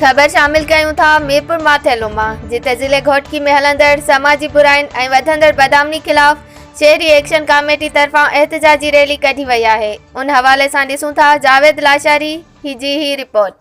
خبر شامل ڪيون ٿا ميرپور ماٿيلو مان جتي ضلعي گهوٽڪي ۾ هلندڙ سماجي براين ۽ وڌندڙ بدامني خلاف شهري ايڪشن ڪاميٽي طرفان احتجاجي ريلي ڪڍي وئي آهي ان حوالي سان ڏسون ٿا جاويد لاشاري جي هي رپورٽ.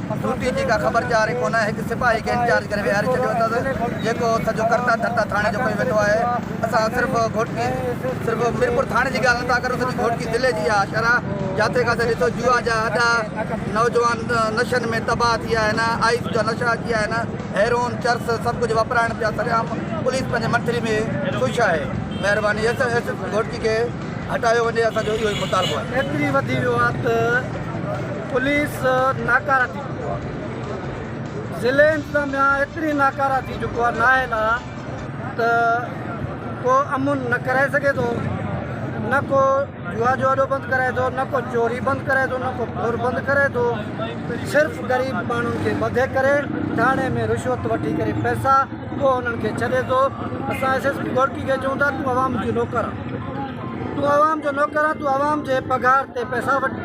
ڊيوٽي جي ڪا خبر چار ئي ڪونه، هڪ سپاهي کي انچارج ڪري ويهاري ڇڏيو اٿس، جيڪو سڄو ڪرتا ڌرتا ٿاڻي جو ڪيو ويٺو آهي. اسان صرف گهوٽڪي، صرف ميرپور ٿاڻي جي ڳالهه نٿا ڪريون، سڄي گهوٽڪي ضلعي جي اها شرح، جاٿي ڪاٿي ڏسو جوا جا اڏا، نوجوان نشن ۾ تباهه ٿي ويا آهن، آئس جا نشا اچي ويا آهن، هيرون، چرس سڀ ڪجهه وپرائڻ پيا سر عام پوليس پنهنجي منٿلي ۾ خوش آهي. مهرباني ايس ايس پي گهوٽڪي کي هٽايو وڃي، اسان جو اهو ئي مطالبو آهي. ايتري وڌي ويو آهي ته. پوليس ناڪاره ٿي چڪو آ ضلعي انتظاميا ايتري ناڪاره ٿي چڪو آ نااهل آ ته ڪو امن نه ڪرائي سگهي ٿو نه ڪو جوا جو اڏو بند ڪرائي ٿو نه ڪو چوري بند ڪرائي ٿو نه ڪو ڦر بند ڪرائي ٿو صرف غريب ماڻهن کي ٻڌي ڪري ٿاڻي ۾ رشوت وٺي ڪري پئسا پوء انهن کي ڇڏي ٿو اسان ايس ايس پي گورڪي کي چون ٿا تون عوام جو نوڪر آ تون عوام جو نوڪر آ تون عوام جي پگهار تي پئسا وٺ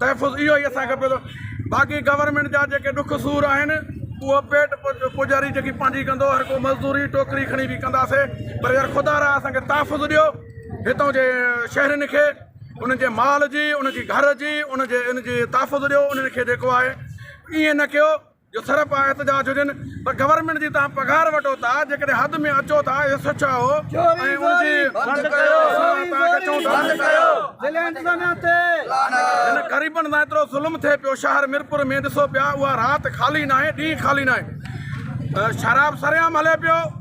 تحفظ اهو ئي اسان کي پيو باقي گورنمينٽ جا جيڪي ڏک سور آهن اهو پيٽ پوڄاري جيڪي پنهنجي ڪندو هر ڪو مزدوري ٽوڪري کڻي به ڪنداسين پر يار خدا را اسان کي تحفظ ڏيو هتان جي شهرين کي انهن جي مال جي ان جي گهر جي ان جي ان جي تحفظ ڏيو انهن کي جيڪو آهي ائين نه ڪيو جو صرف آ احتجاج هجن پر گورنمينٽ جي تهان پگهار وٺو ٿا جيڪڏهن حد ۾ اچو ٿا اهو سچ آهو ۽ ان جي بند ڪيو اسان تهان کي چئون ٿا بند ڪيو ضلعي انتظاميا تي هن غريبن سان ايترو ظلم ٿئي پيو شهر ميرپور ۾ ڏسو پيا اها رات خالي ناهي ڏينهن خالي ناهي شراب سرعام هلي پيو